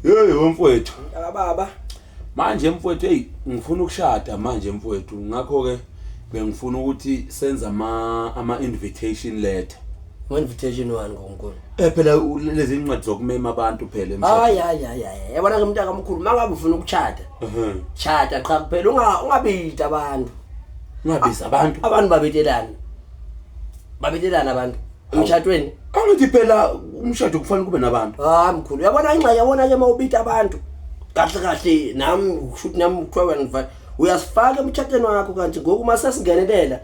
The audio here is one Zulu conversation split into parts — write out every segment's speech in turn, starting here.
Hey wemfowethu. Mntaka baba. Manje mfowethu hey ngifuna ukushada manje mfowethu ngakho ke bengifuna ukuthi senza ama ama invitation letter. Ngo invitation wani ngonkulu? Eh phela lezi incwadi zokumema abantu phela emshadweni. Hayi hayi hayi hayi. Yabona ke mntaka omkhulu mangabe ufuna ukuchada. Mhm. Chada qha kuphela unga ungabidi abantu. Ungabiza abantu. Abantu babetelana. Babetelana abantu. emtshatweni angithi phela umshado kufanele kube nabantu hayi mkhulu uyabona ingxenye yabona ke mawubita abantu kahle kahle nami kushuthi nami kuthiwa wena ngifa uyasifaka emtshatweni wakho kanti ngoku uma sesingenelela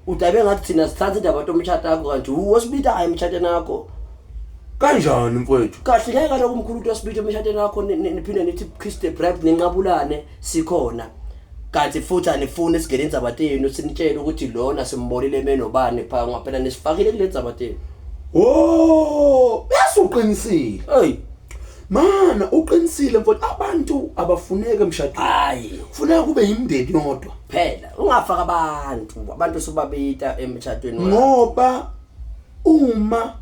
udabe ngathi thina sithatha indaba tomtshata wakho kanti wosibitayo emtshatweni wakho kanjani mfowethu kahle ngeke kaloku umkhulu uthi wasibita emtshatweni wakho niphinde nithi kiss the bride ninqabulane sikhona kanti futhi anifuni sigele indzaba tenu sinitshele ukuthi lona simbonile emenobani pha ngoba phela nisifakile kule ndzaba tenu wo yasuqinisile eyi mana uqinisile mfowethu abantu abafuneki emshadweni hayi kufuneka kube yimndeni yodwa phela ungafaka abantu abantu sobabita emtshatweni wakho. ngoba uma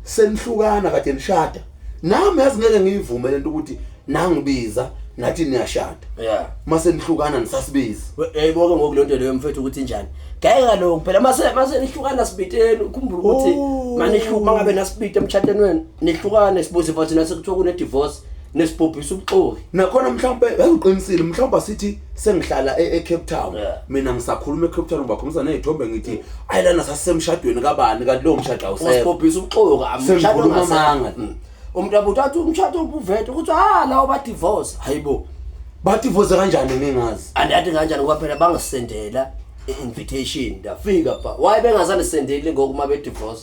senihlukana kade nishada nami yazi ngeke ngiyivume lento ukuthi nangibiza nathi niyashada yeah mase nihlukana nisasibizi yayiboke ngoku lonto leyo mfethu ukuthi njani ngeke kaloko phela mase mase nihlukana sibiteni ukhumbula ukuthi Oh. manihluma ngabe nasibite emtshateni wenu nihlukane sibuze futhi nase kuthiwa kune divorce nesibhubhisa ubuxoki nakhona mhlawumbe bengiqinisile mhlawumbe sithi sengihlala e, eCape Town yeah. mina ngisakhuluma eCape Town ngibakhombisa nezithombe ngithi ayilana sasemshadweni kabani kanti lo mshado awusekho usibhubhisa ubuxoki amshado ngamanga mm. umuntu abuthi athi umshado ubuvethe ukuthi ha lawo ba divorce hayibo ba divorce kanjani ningazi andathi kanjani ngoba phela bangisendela invitation ndafika ba why bengazani sendeli ngokuma be divorce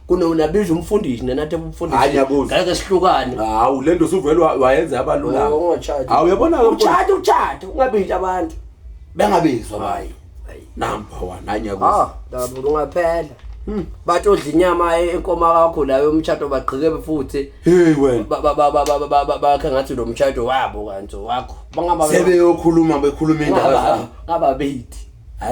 kunonabiza umfundisi nenathi umfundisingeke sihlukane hawu le nto usuvele wayenza yabalula oh, hawu uyabona-ke utshata utshata ungabizi abantu bengabizwa bayo number one anyakuza ah, ungaphela hmm. bathi odla inyama enkoma kakho layo umtshato bagqike futhi bakhe ngathi lo mtshato wabo kanti wakho sebeyokhuluma bekhuluma indaba ngababethi